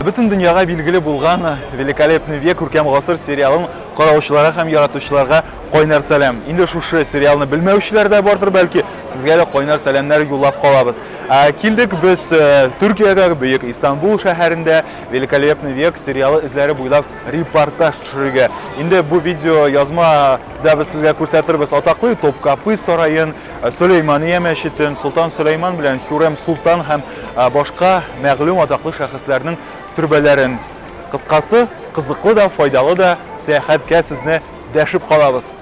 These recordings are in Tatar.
Бөтен дөньяга билгеле булган Великолепный век күркәм гасыр сериалын караучыларга һәм яратучыларга кайнар сәлам. Инде шушы сериалны белмәүчеләр дә бардыр, бәлки сезгә дә кайнар сәламнәр юллап калабыз. Ә, килдек без э, Төркиягә, бөек Истанбул шәһәрендә Великолепный век сериалы эзләре буйлап репортаж төшерергә. Инде бу видео язма да без сезгә күрсәтербез. Атаклы Топкапы сараен, э, Сөләймания мәчетен, Солтан Сөләйман белән Хюрем Султан һәм э, башка мәгълүм атаклы шәхесләрнең төрбәләрен. Кыскасы, кызыклы да, файдалы да сәяхәткә сезне дәшеп калабыз.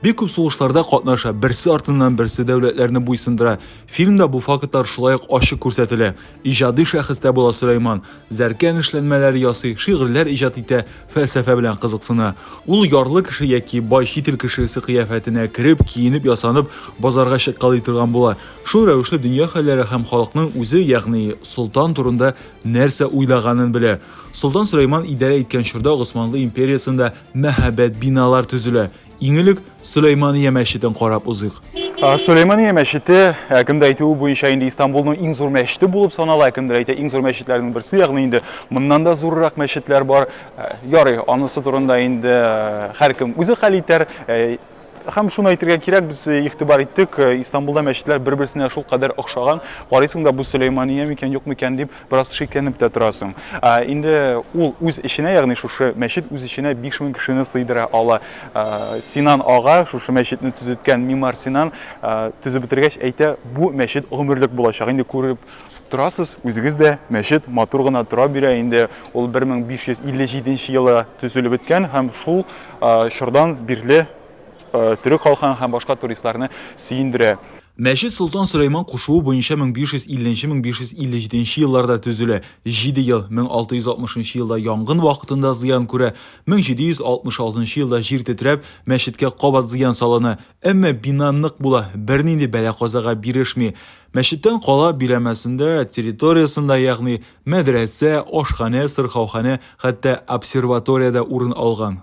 Бик күп сугышларда катнаша, берсе артыннан берсе дәүләтләрне буйсындыра. Фильмда бу фактлар шулай ук ачык күрсәтелә. Иҗади шәхестә була Сөләйман. Зәркән эшләнмәләр ясый, шигырьләр иҗат итә, фәлсәфә белән кызыксына. Ул ярлы кеше яки бай чит ил кешесе кыяфәтенә кереп, киенеп-ясанып, базарга чыккалый торган була. Шул рәвешле дөнья хәлләре һәм халыкның үзе, ягъни Солтан турында нәрсә уйлаганын белә. Солтан Сөләйман идарә иткән чорда Госманлы империясында мәһабәт биналар төзелә. Иң элек Сөләймания мәчетен карап узыйк. Сөләймания мәчете, кемдер әйтүе буенча, инде Истанбулның иң зур мәчете булып санала, кемдер әйтә, иң зур мәчетләрнең берсе, ягъни инде моннан да зуррак мәчетләр бар. Ярый, анысы турында инде һәркем үзе хәл итәр. Һәм шуны әйтергә кирәк, без э, игътибар иттек, э, Истанбулда мәчетләр бер-берсенә шулкадәр охшаган, карыйсың да бу Сөләймания микән, юк микән дип, Бераз шикләнеп тә торасың. Ә, инде ул үз эченә, ягъни шушы мәчет үз эченә 5000 кешене сыйдыра ала. Ә, Синан ага, шушы мәчетне төзеткән мимар Синан, ә, төзеп бетергәч әйтә, бу мәчет гомерлек булачак. Инде күреп торасыз үзегез дә, мәчет матур гына тора бирә. Инде ул 1557 нче елы төзелеп беткән һәм шул, а, чордан бирле, а, төрек халкын һәм башка туристларны сөендерә. Мәчет Солтан Сөләйман кушуы буенча 1550-1557 елларда төзелә, 7 ел, 1660 елда янгын вакытында зыян күрә, 1766 елда җир тетрәп, мәчеткә кабат зыян салына, әмма бина нык була, бернинди бәла-казага бирешми. Мәчеттән кала биләмәсендә, территориясендә, ягъни мәдрәсә, ашханә, сырхауханә, хәтта обсерватория дә урын алган.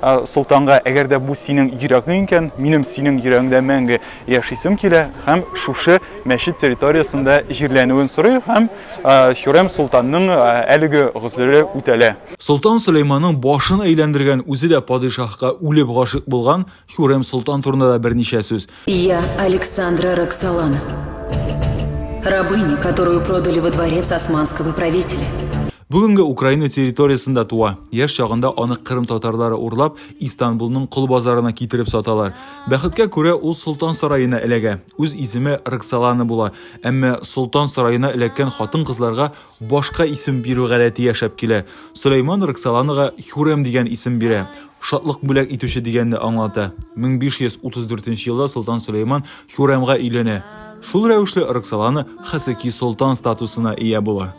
Ә Солтанга, Әгәр дә бу синең йөрәгең икән, минем синең йөрәгеңдә мәңге яшисем килә, һәм шушы мәчет территориясендә җирләнүен сорый һәм Хюрем Солтанның әлеге гозере үтәлә. Солтан Сөләйманның башын әйләндергән, үзе дә падишаһка үлеп гашыйк булган Хюрем Солтан турында да берничә сүз. Я Александра Роксолана, рабыня, которую продали во дворец османского правителя. Бүгенге Украина территориясендә туа. Яшь чагында аны Кырым татарлары урлап, Истанбулның кол базарына китереп саталар. Бәхеткә күрә, ул Солтан сараена эләгә. Үз исеме Роксолана була, әмма Солтан сараена эләккән хатын-кызларга Башка исем бирү гадәте яшәп килә. Сөләйман Роксоланага Хюрем дигән исем бирә. Шатлык бүләк итүче дигәнне аңлата. 1534 елда Солтан Сөләйман Хюремга өйләнә. Шул рәвешле Роксолана Хасеки солтан статусына ия була.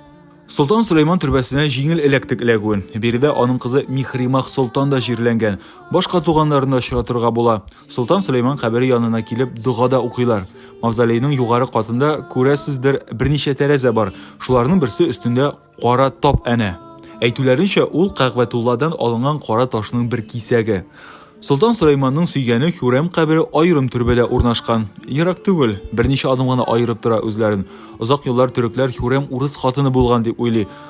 Солтан Сөләйман төрбәсенә җиңел эләктек эләгүен. Биредә аның кызы Михримах Солтан да җирләнгән. Башка туганнарын да очратырга була. Солтан Сөләйман кабере янына килеп дога да укыйлар. Мавзолейның югары катында күрәсездер берничә тәрәзә бар. Шуларның берсе өстендә кара тап әнә. Әйтүләренчә, ул Кәгъбәтулладан алынган кара ташның бер кисәге. Солтан Сөләйманның сөйгәне Хюрәм кабере аерым төрбәдә урнашкан. Ерак түгел, берничә адым гына аерып тора үзләрен. Озак еллар төрекләр Хюрәм урыс хатыны булган дип уйлый.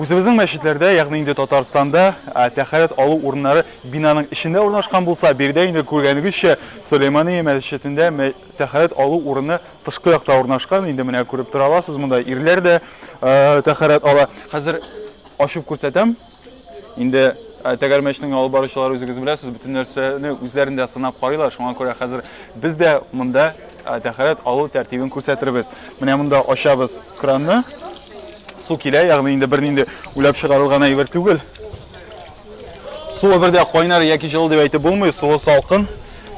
Үзебезнең мәчетләрдә, ягъни инде Татарстанда тәһарәт алу урыннары бинаның эчендә урнашкан булса, биредә инде күргәнегезчә, Сөләймания мәчетендә тәһарәт алу урыны тышкы якта урнашкан. Инде менә күреп тора аласыз, монда ирләр дә тәһарәт ала. Хәзер ачып күрсәтәм. Инде тәгәрмәчнең алып баручылары үзегез беләсез, бөтен нәрсәне үзләрендә сынап карыйлар, шуңа күрә хәзер без дә монда Тәһарәт алу тәртибен күрсәтербез. Менә монда ачабыз кранны. Су килә, ягъни инде бернинди уйлап чыгарылган әйбер түгел. Суы бер дә кайнар яки җылы дип әйтеп булмый, суы салкын.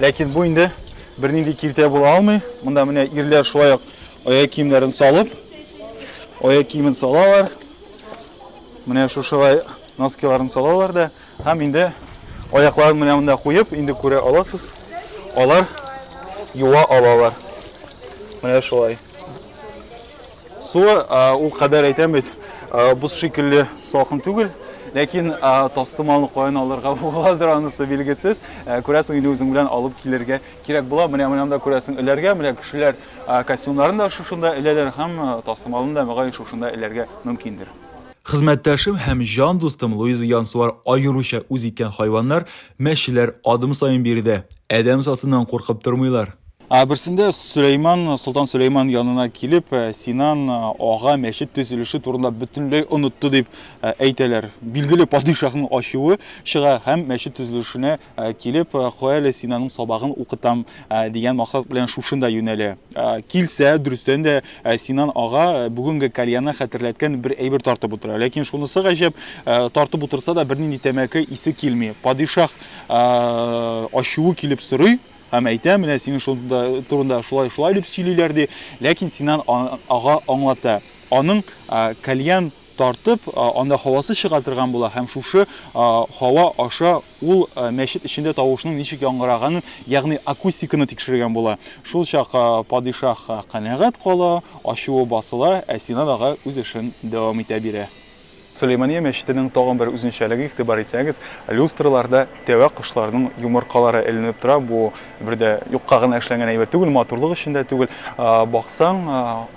Ләкин бу инде бернинди киртә була алмый. Монда менә ирләр шулай ук аяк киемнәрен салып, аяк киемен салалар. Менә шушылай носкиларын салалар да, Һәм инде аякларын менә монда куеп, инде күрә аласыз, алар юа алалар. Менә шулай. Су ул кадәр әйтәм бит, боз шикелле салкын түгел, ләкин тастымалны каян алырга буладыр анысы билгесез. Күрәсең, инде үзең белән алып килергә кирәк була. Менә менә монда күрәсең, эләргә, менә кешеләр костюмнарын да шушында эләләр һәм тастымалны да мөгаен шушында эләргә мөмкиндер. Хезмәттәшем һәм җан дустым Луиза Янсуар аеруча үз иткән хайваннар, мәчеләр адым саен биредә. Адәм затыннан куркып тормыйлар. Берсендә Сөләйман, Солтан Сөләйман янына килеп, Синан ага мәчет төзелеше турында бөтенләй онытты дип әйтәләр. Билгеле, падишаһның ачуы чыга һәм мәчет төзелешенә Ә, килеп, ә, куй әле, син аның сабагын укытам, ә, дигән максат белән шушында юнәлә. Ә, килсә, дөрестән дә, ә, Синан ага ә, бүгенге кальянны хәтерләткән бер әйбер тартып утыра. Ләкин шунысы гаҗәп, ә, тартып утырса да, бернинди тәмәке исе килми. Падишаһ, ә, ачуы килеп сорый һәм әйтә, Менә синең шунда турында шулай-шулай дип сөйлиләр, ди. Ләкин Синан а, ага аңлата. Аның, ә, кальян тартып, анда һавасы чыга торган була һәм шушы һава аша ул мәчет эчендә тавышның ничек яңгыраганын, ягъни акустиканы тикшергән була. Шулчак падишаһ канәгать кала, ачуы басыла, ә Синан ага үз эшен дәвам итә бирә. Сөләймания мәчетенең тагын бер үзенчәлеге, игътибар итсәгез, люстраларда тәвә кошларының йомыркалары эленеп тора. Бу бер дә юкка гына эшләнгән әйбер түгел, матурлык өчен дә түгел. Баксаң,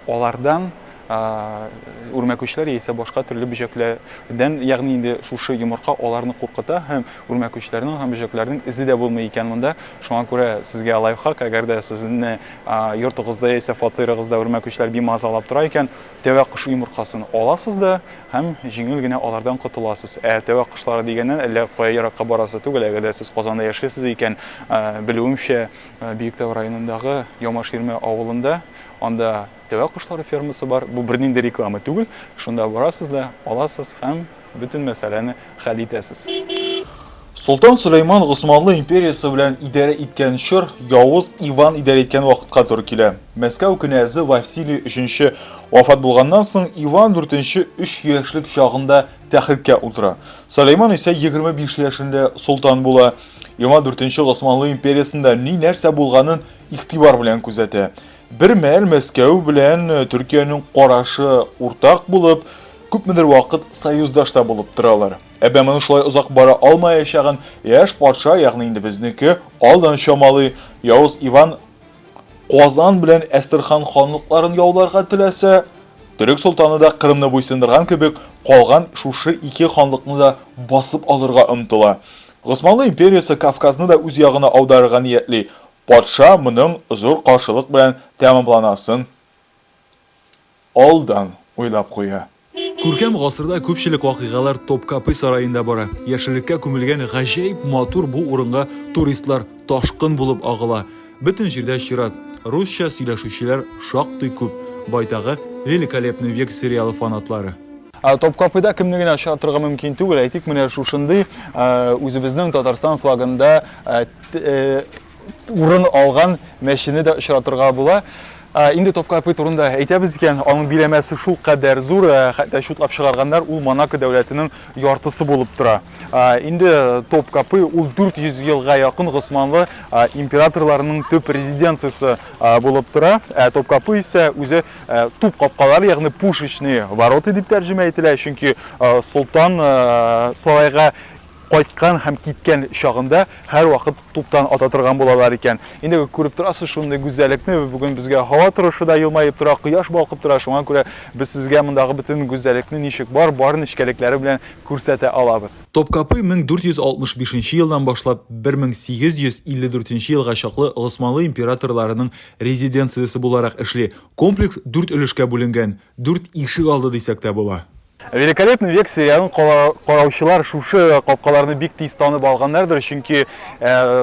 алардан Үрмәкүчләр яисә башка төрле бөҗәкләрдән, ягъни инде шушы йомырка аларны куркыта һәм үрмәкүчләрнең һәм бөҗәкләрнең эзе дә булмый икән монда. Шуңа күрә сезгә лайфхак, әгәр дә сезне йортыгызда яисә фатирыгызда үрмәкүчләр бимазалап тора икән, тәвә кошы йомыркасын аласыз да һәм җиңел генә алардан котыласыз. Ә тәвә кошлары дигәннән әллә кая еракка барасы түгел, әгәр дә сез Казанда яшисез икән, белүемчә, Биектау районындагы Ямаширмә авылында, анда Тәвә кошлары фермасы бар. Бу бернинди реклама түгел. Шунда барасыз да аласыз һәм бөтен мәсьәләне хәл итәсез. Солтан Сөләйман Госманлы империясе белән идарә иткән чор Явыз Иван идарә иткән вакытка туры килә. Мәскәү кенәзе Василий өченче вафат булганнан соң, Иван дүртенче өч яшьлек чагында тәхеткә утыра. Сөләйман исә 25 яшендә солтан була. Иван дүртенче Госманлы империясендә ни-нәрсә булганын игътибар белән күзәтә. Бер мәл Мәскәү белән Төркиянең карашы уртак булып, күпмедер вакыт союздаш та булып торалар. Әбә моны шулай озак бара алмаячагын яшь патша, ягъни инде безнеке, алдан чамалый. Явыз Иван Казан белән Әстерхан ханлыкларын яуларга теләсә, төрек солтаны да Кырымны буйсындырган кебек, калган шушы ике ханлыкны да басып алырга омтыла. Госманлы империясе Кавказны да үз ягына аударырга ниятли. Патша моның зур каршылык белән тәмамланасын алдан уйлап куя. Күркәм гасырда күпчелек вакыйгалар Топкапы сараенда бара. Яшеллеккә күмелгән гаҗәеп матур бу урынга туристлар ташкын булып агыла. Бөтен җирдә чират. Русча сөйләшүчеләр шактый күп, байтагы, Великолепный век сериалы фанатлары. Топкапыда кемне генә очратырга мөмкин түгел, әйтик, менә шушындый үзебезнең Татарстан флагында урын алган мәчене дә очратырга була. Инде Топкапы турында әйтәбез икән, аның биләмәсе шул кадәр зур, хәтта шутлап чыгарганнар, ул Монако дәүләтенең яртысы булып тора. Инде Топкапы ул 400 елга якын Госманлы императорларының төп резиденциясе булып тора. Ә Топкапы исә үзе туп капкалар, ягъни пушечные ворота дип тәрҗемә ителә, чөнки солтан сарайга Кайткан һәм киткән чагында һәрвакыт туптан ата торган булалар икән. Инде күреп торасыз шундый гүзәлекне, бүген безгә һава торышы да елмаеп тора, кояш балкып тора, шуңа күрә без сезгә мондагы бөтен гүзәлекне ничек бар, бар нечкәлекләре белән күрсәтә алабыз. Топкапы 1465 нче елдан башлап 1854 нче елга чаклы Госманлы императорларының резиденциясе буларак эшли. Комплекс дүрт өлешкә бүленгән, Дүрт ишек алды дисәк тә була. Великолепный век сериалын караучылар шушы капкаларны бик тиз танып алганнардыр, чөнки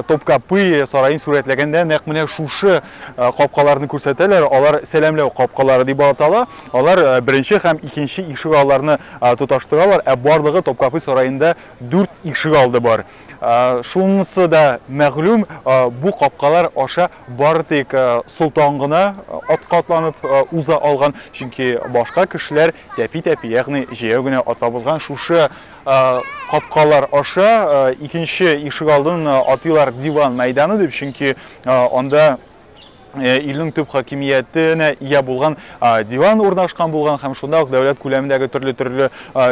Топкапы сараен сурәтләгәндә нәкъ менә шушы капкаларны күрсәтәләр. Алар сәламләү капкалары дип атала. Алар беренче һәм икенче ишек алларны тоташтыралар, ә барлыгы Топкапы сараенда дүрт ишек алды бар. Шунысы да мәгълүм, бу капкалар аша Бары тик Солтан гына атка атланып уза алган, чөнки башка кешеләр тәпи-тәпи, ягъни җәяү генә атап узган шушы капкалар аша икенче ишегалдын атыйлар Диван мәйданы дип, чөнки анда илнең төп хакимиятенә ия булган диван урнашкан булган һәм шунда ук дәүләт күләмендәге төрле-төрле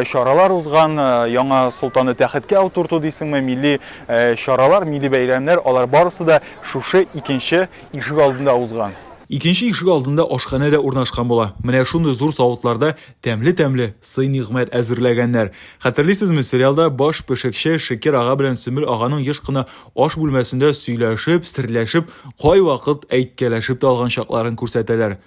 чаралар узган, яңа солтанны тәхеткә утырту дисеңме, милли чаралар, милли бәйрәмнәр, алар барысы да Шушы икенче ишек алдында узган. Икенче ишек алдында ашханә дә урнашкан була. Менә шундый зур савытларда тәмле-тәмле сый-нигъмәт әзерләгәннәр. Хәтерлисезме, сериалда баш пешекче Шекер ага белән Сөмбел аганың еш кына аш бүлмәсендә сөйләшеп, серләшеп, кайвакыт әйткәләшеп тә алган чакларын күрсәтәләр.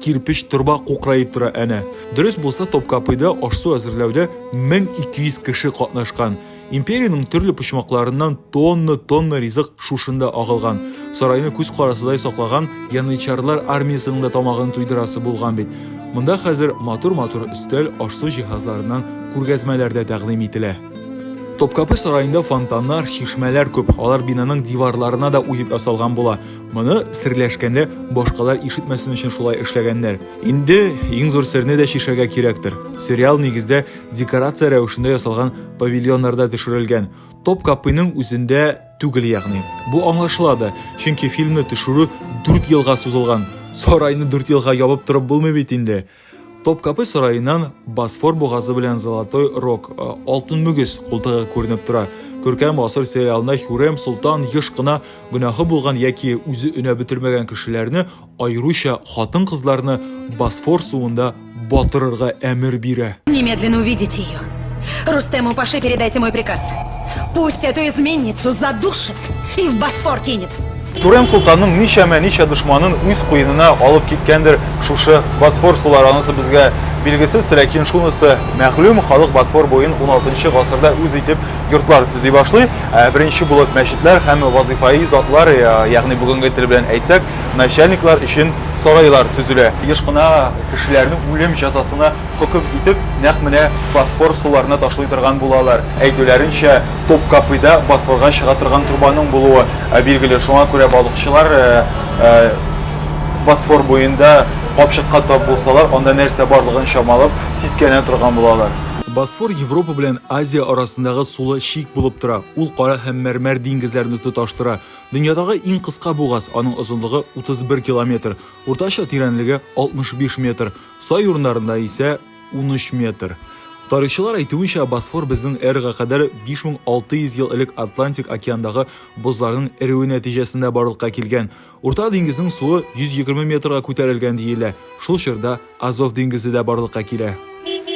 Кирпеч торба кукраеп тора әнә. Дөрес булса, Топкапыйда аш-су әзерләүдә 1200 кеше катнашкан. Империянең төрле почмакларыннан тонна-тонна ризык шушында агылган. Сарайны күз карасыдай саклаган янычарлар армиясенең дә тамагын туйдырасы булган бит. Монда хәзер матур-матур өстәл, аш-су җиһазларыннан күргәзмәләр дә тәкъдим ителә. Топкапы сараенда фонтаннар, чишмәләр күп, алар бинаның диварларына да уеп ясалган була. Моны серләшкәндә башкалар ишетмәсен өчен шулай эшләгәннәр. Инде иң зур серне дә чишәргә кирәктер. Сериал нигездә декорация рәвешендә ясалган павильоннарда төшерелгән. Топ капыйның үзендә түгел ягъни. Бу аңлашыла да, чөнки фильмны төшерү 4 елга сузылган. Сарайны 4 елга ябып торып булмый бит инде. Топкапы сараеннан Босфор бугазы белән Золотой Рок, э, Алтын мөгез култыгы күренеп тора. Күркәм гасыр сериалында Хюрем Султан еш кына гөнаһы булган яки үзе өнә бетермәгән кешеләрне, аеруча хатын-кызларны Босфор суында батырырга әмер бирә. Немедленно увидите ее. Рустему Паше передайте мой приказ. Пусть эту изменницу задушит и в Босфор кинет. Турем Султанның ничәмә ничә дошманын үз куенына алып киткәндер шушы Босфор сулары анысы безгә билгесез, ләкин шунысы мәгълүм, халык Босфор буен 16 гасырда үз итеп йортлар төзи башлый. Ә беренче булып мәчетләр һәм вазифаи затлар, ягъни бүгенге тел белән әйтсәк, начальниклар өчен сарайлар төзелә. Еш кына кешеләрне үлем җәзасына Хөкем итеп, нәкъ менә Босфор суларына ташлый торган булалар. Әйтүләренчә, Топкапыда Босфорга чыга торган торбаның булуы билгеле, шуңа күрә балыкчылар Босфор буенда капчыкка тап булсалар, анда нәрсә барлыгын чамалап, сискәнә торган булалар. Босфор Европа белән Азия арасындагы сулы чик булып тора. Ул Кара һәм Мәрмәр диңгезләрне тоташтыра. Дөньядагы иң кыска бугаз, аның озынлыгы 31 километр, уртача тирәнлеге 65 метр. Сай урыннарында исә 13 метр. Тарихчылар әйтүенчә, Босфор безнең эрага кадәр 5600 ел элек Атлантик океандагы бозларның эриүе нәтиҗәсендә барлыкка килгән. Урта диңгезнең суы 120 метрга күтәрелгән диелә. Шул чорда Азов диңгезе дә барлыкка килә.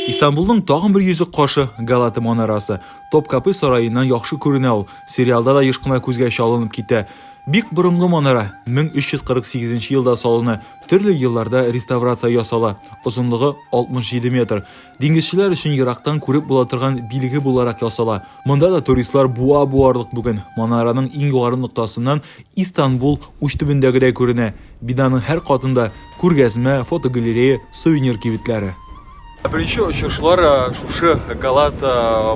Истанбулның тагын бер йөзек кашы, Галата манарасы. Топкапы сараеннан яхшы күренә ул, сериалда да еш кына күзгә чалынып китә. Бик борынгы манара, 1348 елда салына. Төрле елларда реставрация ясала. Озынлыгы 67 метр. Диңгезчеләр өчен ерактан күреп була торган билге буларак ясала. Монда да туристлар буа буарлык бүген. Манараның иң югары ноктасыннан Истанбул уч төбендәгедәй күренә. Бинаның һәр катында күргәзмә, фотогалерея, сувенир кибетләре. Беренче очышлар шушы Галат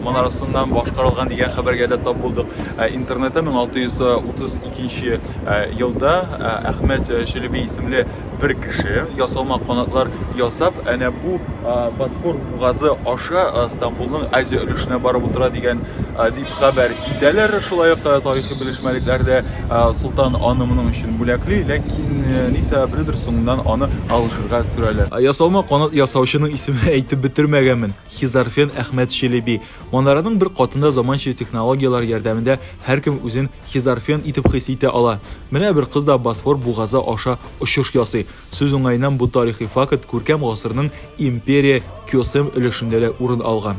манарасыннан башкарылган дигән хәбәргә дә тап булдык. Интернетта 1632 елда Әхмәт Челеби исемле бер кеше ясалма канатлар ясап, әнә бу Босфор бугазы аша Стамбулның Азия өлешенә барып утыра дигән дип хәбәр итәләр. Шулай ук тарихи белешмәлекләр дә Солтан аны моның өчен бүләкли, ләкин ни сәбәпледер соңыннан аны Алжирга сөрәләр. Ясалма канат ясаучының исемен әйтеп бетермәгәнмен, Хизарфен Әхмәт Чилеби. Манараның бер катында заманча технологияләр ярдәмендә һәркем үзен Хизарфен итеп хис итә ала. Менә бер кыз да Босфор бугазы аша очыш ясый. Сүз уңаеннан, бу тарихи факт күркәм гасырның империя Кёсем өлешендә дә урын алган.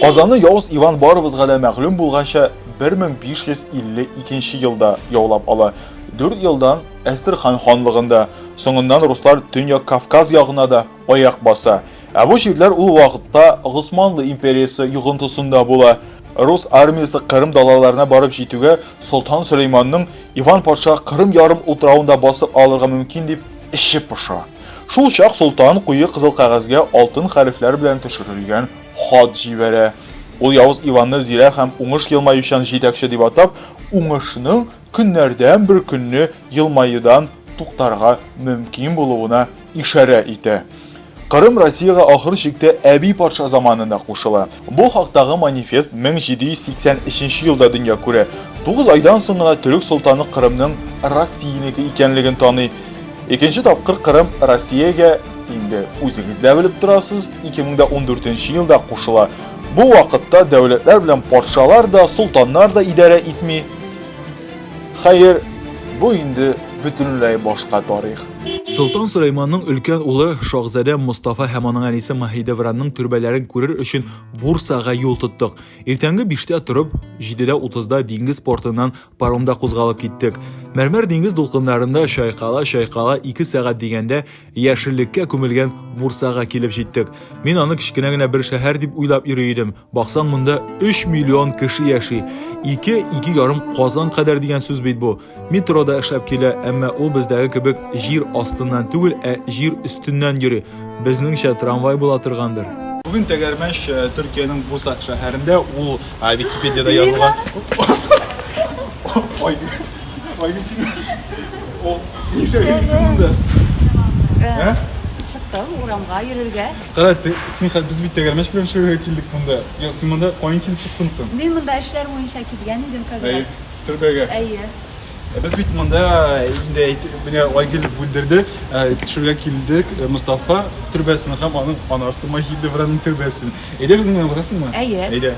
Казаны Явыз Иван барыбызга да мәгълүм булганча 1552 елда яулап ала. Дүрт елдан Әстерхан ханлыгында, соңыннан руслар Төньяк Кавказ ягына да аяк баса. Ә бу җирләр ул вакытта Госманлы империясе йогынтысында була. Рус армиясе Кырым далаларына барып җитүгә, Солтан Сөләйманның Иван патша Кырым ярым утравында басып алырга мөмкин дип эче поша. Шул чак солтан куе кызыл кәгазьгә алтын хәрефләр белән төшерелгән хат җибәрә. Ул Явыз Иванны зирәк һәм уңыш елмаючан җитәкче дип атап, уңышның көннәрдән бер көнне елмаюдан туктарга мөмкин булуына ишарә итә. Кырым Россиягә ахыр чиктә әби патша заманында кушыла. Бу хактагы манифест 1783 елда дөнья күрә. Тугыз айдан соң гына төрек солтаны Кырымның Россиянеке икәнлеген таный. Икенче тапкыр Кырым Россиягә, инде үзегез дә белеп торасыз, 2014 елда кушыла. Бу вакытта дәүләтләр белән патшалар да, солтаннар да идарә итми. Хәер, бу инде бөтенләй башка тарих. Солтан Сөләйманның өлкән улы шаһзадә Мостафа һәм аның әнисе Маһидевранның төрбәләрен күрер өчен Бурсага юл тоттык. Иртәнге биштә торып, җидедә утызда диңгез портыннан паромда кузгалып киттек. Мәрмәр диңгез дулкыннарында чайкала-чайкала ике сәгать дигәндә яшеллеккә күмелгән Бурсага килеп җиттек. Мин аны кечкенә генә бер шәһәр дип уйлап йөри идем, Баксаң монда 3 миллион кеше яши. Ике, ике ярым Казан кадәр дигән сүз бит бу. Метро да эшләп килә, әмма ул бездәге кебек җир астыннан түгел, ә җир өстеннән йөри. Безнеңчә трамвай була торгандыр. Бүген Тәгәрмәш э, Төркиянең Бусак шәһәрендә, ул э, Википедиядә язылган. Ой, ой, син. О, син шәһәрсең монда. Э, Чыктым урамга йөрергә. Кара, ты, син хәт, без бит тәгәрмәч белән пешерергә килдек монда. Юк, син монда каян килеп чыктың соң? Мин монда эшләр буенча килгән идем, Кавиар. Әйе, төрбәгә. Әйе. Ә без бит монда инде әйт, менә Айгөл бүлдерде, төшергә килдек Мостафа төрбәсен һәм аның анасы Маһидевраның төрбәсен. Әйдә безнең белән барасыңмы? Әйе. Әйдә.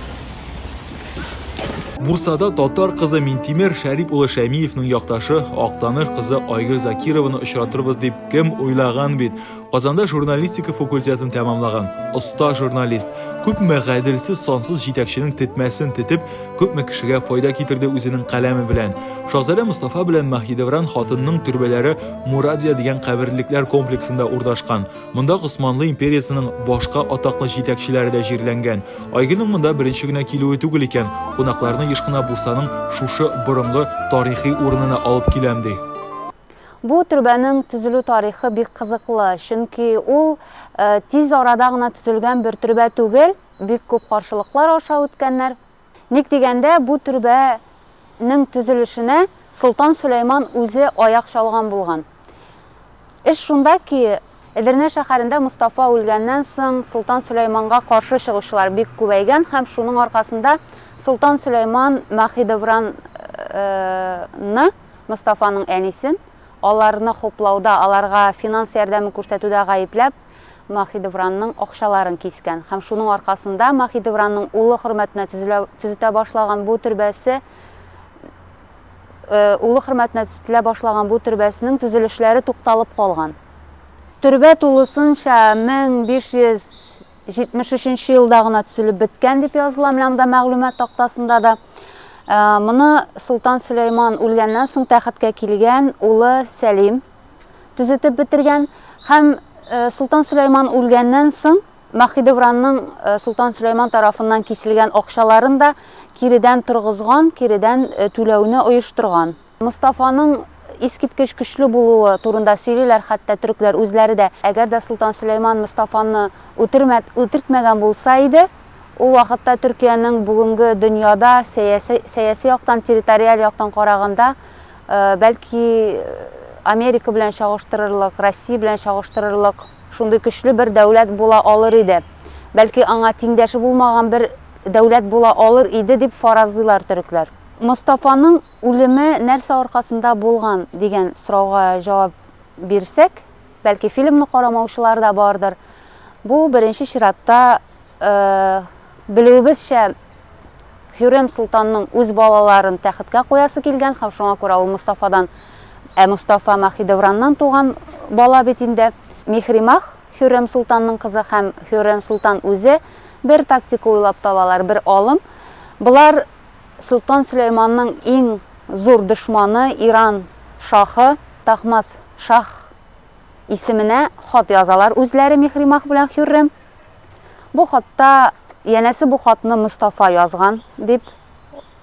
Бурсада татар кызы Минтимер Шәрип улы Шәмиевның якташы, Актаныш кызы Айгөл Закированы очратырбыз дип кем уйлаган бит. Казанда журналистика факультетын тәмамлаган оста журналист күпме гаделсез сансыз җитәкченең тетмәсен тетеп, күпме кешегә файда китерде үзенең каләме белән. Шаһзадә Мустафа белән Маһидевран хатынның төрбәләре Мурадия дигән каберлекләр комплексында урдашкан. Монда Госманлы империясының башка атаклы җитәкчеләре дә җирләнгән. Айгөлнең монда беренче генә килүе түгел икән, кунакларны еш кына Бурсаның шушы борынгы тарихи урынына алып киләм ди. Бу төрбәнең төзелү тарихы бик кызыклы, чөнки ул тиз арада гына төзелгән бер төрбә түгел, бик күп каршылыклар аша үткәннәр. Ник дигәндә, бу төрбә нең төзелешенә Солтан Сөләйман үзе аяк чалган булган. Эш шунда ки, Эдернә шәһәрендә Мостафа үлгәннән соң Солтан Сөләйманга каршы чыгучылар бик күбәйгән һәм шуның аркасында Солтан Сөләйман Маһидевран ны, Мостафаның әнисен, аларны хуплауда, аларга финанс ярдәме күрсәтүдә гаепләп, Маһидевранның акчаларын кискән һәм шуның аркасында Маһидевранның улы хөрмәтенә төзелә төзетә башлаган бу төрбәсе улы хөрмәтенә төзетелә башлаган бу төрбәсенең төзелешләре тукталып калган. Төрбә тулысынча 1500 1973 нче елда гына төзелеп беткән дип языла менә монда мәгълүмат тактасында да. Моны Солтан Сөләйман үлгәннән соң тәхеткә килгән улы Сәлим төзетеп бетергән һәм Солтан Сөләйман үлгәннән соң Махидевранның Солтан Сөләйман тарафыннан киселгән акчаларын да киредән торгызган, киредән түләүне оештырган. Мостафаның искиткеч көчле булуы турында сөйлиләр хәтта төрекләр үзләре дә. Әгәр дә Солтан Сөләйман Мостафаны үтертмәгән булса иде, ул вакытта Төркиянең бүгенге дөньяда сәяси яктан, территориаль яктан караганда, бәлки, Америка белән чагыштырырлык, Россия белән чагыштырырлык шундый көчле бер дәүләт була алыр иде. Бәлки, аңа тиңдәше булмаган бер дәүләт була алыр иде, дип фаразлыйлар төрекләр. Мостафаның Үлеме нәрсә аркасында булган, дигән сорауга җавап бирсәк, бәлки фильмны карамаучылар да бардыр, бу, беренче чиратта, белүебезчә, Хюрем солтанның үз балаларын тәхеткә куясы килгән һәм шуңа күрә ул Мостафадан, ә Мостафа Маһидевраннан туган бала бит инде. Михримах, Хюрем солтанның кызы, һәм Хюрем солтан үзе бер тактика уйлап табалар, бер алым. Болар. Солтан Сөләйманның иң зур дошманы Иран шаһы Тахмас шаһ исеменә хат язалар үзләре Мехримах белән Хюррем. Бу хатта, янәсе бу хатны Мостафа язган дип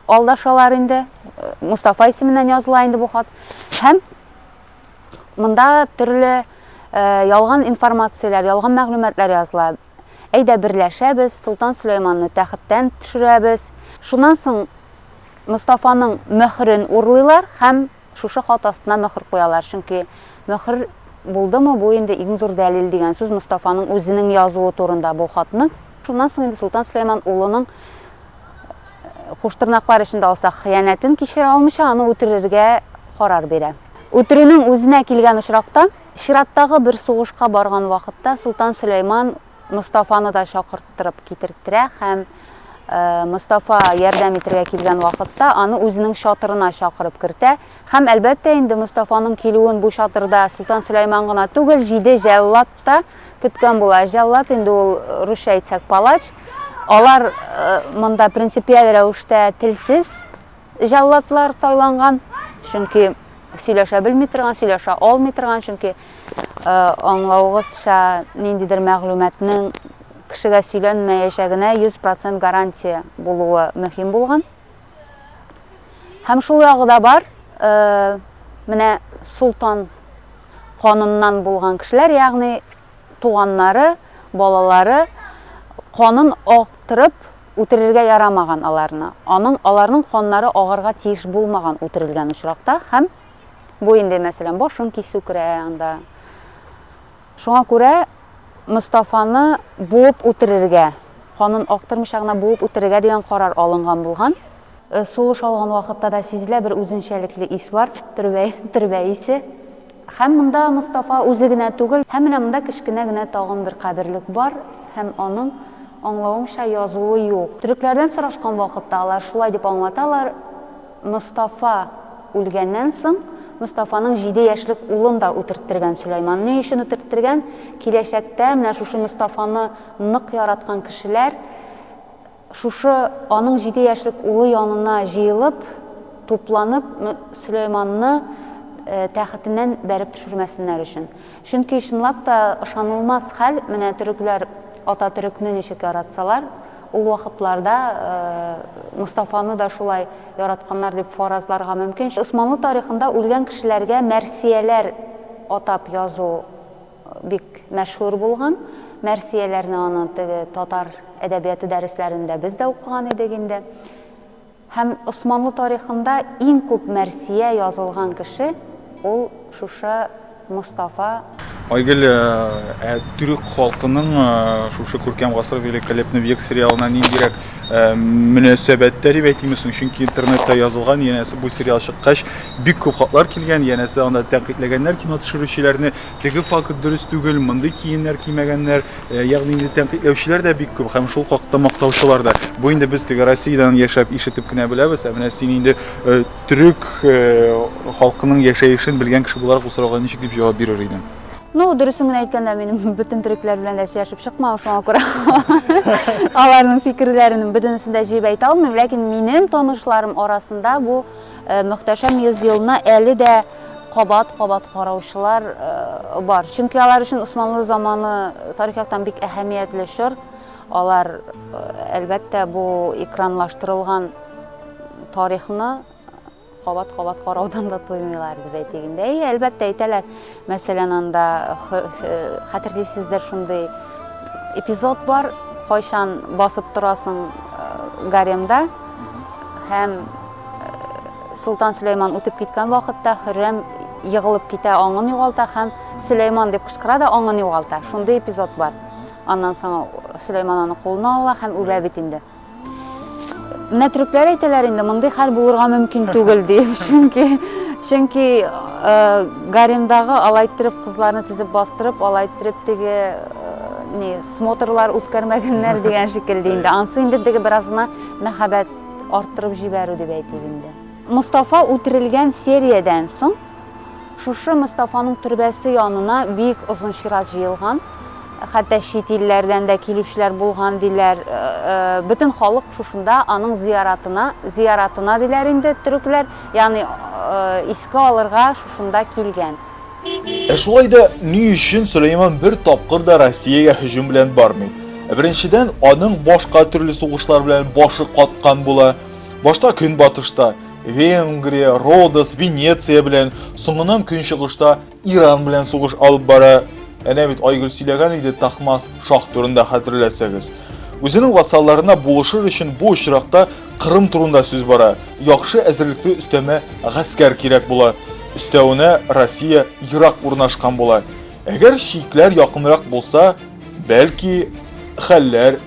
алдашалар инде, Мостафа исеменнән языла инде бу хат. Һәм монда төрле ялган информацияләр, ялган мәгълүматлар языла. Әйдә, берләшәбез, Солтан Сөләйманны тәхеттән төшерәбез. Шуннан соң Мостафаның мөһерен урлыйлар һәм шушы хат астына мөһер куялар, чөнки мөһер булдымы, бу инде иң зур дәлил, дигән сүз Мостафаның үзенең язуы турында бу хатны. Шуннан соң инде Солтан Сөләйман улының, куштырнаклар эчендә алсак, хыянәтен кичерә алмыйча, аны үтерергә карар бирә. Үтерүнең үзенә килгән очракта, Чираттагы бер сугышка барган вакытта Солтан Сөләйман Мостафаны да чакырттырып китертттерә һәм Мостафа ярдәм итергә килгән вакытта аны үзенең чатырына чакырып кертә һәм, әлбәттә инде, Мостафаның килүен бу чатырда Солтан Сөләйман гына түгел, җиде җәллад та көткән була. Ә җәллад инде ул, русча әйтсәк, палач. Алар монда принципиаль рәвештә телсез. Җалладлар сайланган, чөнки сөйләшә белми торган, сөйләшә алмый торган, чөнки аңлавыгызча ниндидер мәгълүматның кешегә сөйләнмәячәгенә 100% гарантия булуы мөһим булган. Һәм шул ягы да бар, менә солтан каныннан булган кешеләр, ягъни туганнары, балалары канын актырып үтерергә ярамаган аларны, аның, аларның каннары агарга тиеш булмаган үтерелгән очракта һәм бу инде, мәсәлән, башын кисү керә анда. Шуңа күрә Мостафаны буып үтерергә, канын актырмыйча гына буып үтерергә дигән карар алынган булган. Сулыш алган вакытта да сизелә бер үзенчәлекле ис бар, төрбә, төрбә исе. Һәм монда Мостафа үзе генә түгел, һәм менә монда кечкенә генә тагын бер каберлек бар, һәм аның, аңлавымча, язуы юк. Төрекләрдән сорашкан вакытта, алар шулай дип аңлаталар, Мостафа үлгәннән соң, Мостафаның җиде яшьлек улын да үтертергән Сөләйман. Ни өчен үтертергән? Киләчәктә менә шушы Мостафаны нык яраткан кешеләр, Шушы аның җиде яшьлек улы янына җыелып, тупланып Сөләйманны тәхетеннән бәреп төшермәсеннәр өчен. Чөнки, чынлап та, ышанылмас хәл, менә төрекләр Ататөрекне ничек яратсалар, ул вакытларда Мостафаны да шулай яратканнар дип фаразларга мөмкин. Османлы тарихында үлгән кешеләргә мәрсияләр атап язу Бик мәшһүр булган. Мәрсияләрне аны теге татар әдәбияты дәресләрендә без дә укыган идек инде. Һәм Османлы тарихында иң күп мәрсия язылган кеше ул шушы Мостафа. Айгөл, ә төрек халкының шушы күркәм гасыр великолепный век сериалына ниндирәк мөнәсәбәттә дип әйтимме соң? Чөнки интернетта язылган, янәсе бу сериал чыккач бик күп хатлар килгән, янәсе анда тәнкыйтьләгәннәр кино төшерүчеләрне. Теге факт дөрес түгел, мондый киемнәр кимәгәннәр, ягъни инде тәнкыйтьләүчеләр дә бик күп һәм шул хакта мактаучылар да. Бу инде без теге Россиядән яшәп, ишетеп кенә беләбез, ә менә син инде төрек халкының яшәешен белгән кеше буларак бу сорауга ничек дип җавап бирер идең? Ну, дөресен генә әйткәндә, мин бөтен төрекләр белән дә сөйләшеп чыкмам, шуңа күрә аларның фикерләрен бөтенесен дә җыеп әйтә алмыйм, ләкин минем танышларым арасында бу мөхтәшәм йөз елны әле дә кабат-кабат караучылар бар. Чөнки алар өчен Усманлы заманы тарих яктан бик әһәмиятле чор. Алар, әлбәттә, бу экранлаштырылган тарихны кабат-кабат караудан да туймыйлар дип әйтик инде. Әйе, әлбәттә, әйтәләр. Мәсәлән, анда хәтерлисездер шундый эпизод бар, кайчан басып торасың гаремда һәм Солтан Сөләйман үтеп киткән вакытта Хөррәм егылып китә, аңын югалта һәм Сөләйман дип кычкыра да аңын югалта. Шундый эпизод бар. Аннан соң Сөләйман аны кулына ала һәм үлә бит инде. Менә төрекләр әйтәләр инде, мондый хәл булырга мөмкин түгел дип. Чөнки чөнки э, гаремдагы алай иттереп кызларны тезеп бастырып, алай иттереп теге э, не смотрлар үткәрмәгәннәр дигән шикелле инде. Ансы инде теге беразына мәхәббәт арттырып җибәрү дип әйтик инде. Мостафа үтерелгән сериядән соң шушы Мостафаның төрбәсе янына бик озын чират җыелган, хәтта чит илләрдән дә килүчеләр булган диләр. Бөтен халык шушында аның зияратына, зияратына диләр инде төрекләр, ягъни искә алырга шушында килгән. Ә шулай да ни өчен Сөләйман бер тапкыр да Россиягә һөҗүм белән бармый? Беренчедән, аның башка төрле сугышлар белән башы каткан була. Башта Көнбатышта, Венгрия, Родос, Венеция белән, соңыннан көнчыгышта Иран белән сугыш алып бара. Әнә бит Айгөл сөйләгән иде Тахмас шах турында хәтерләсәгез. Үзенең вассалларына булышыр өчен бу очракта Кырым турында сүз бара. Яхшы әзерлекле өстәмә гаскәр кирәк була. Өстәвенә Россия ерак урнашкан була. Әгәр чикләр якынрак булса, бәлки хәлләр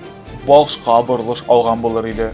башка борылыш алган булыр иде.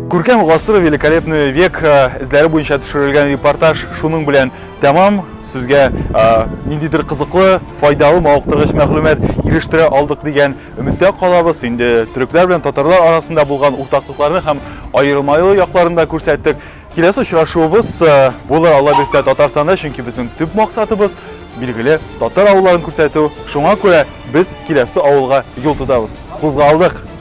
Күркәм гасыр, великолепный век эзләре буенча төшерелгән репортаж шуның белән тәмам. Сезгә ниндидер кызыклы, файдалы, мавыктыргыч мәгълүмат ирештерә алдык дигән өметтә калабыз. Инде төрекләр белән татарлар арасында булган уртаклыкларны һәм аерылмалы якларын да күрсәттек. Киләсе очрашуыбыз булыр, Алла бирсә, Татарстанда, чөнки безнең төп максатыбыз билгеле татар авылларын күрсәтү. Шуңа күрә без киләсе авылга юл тотабыз. Кузгалдык!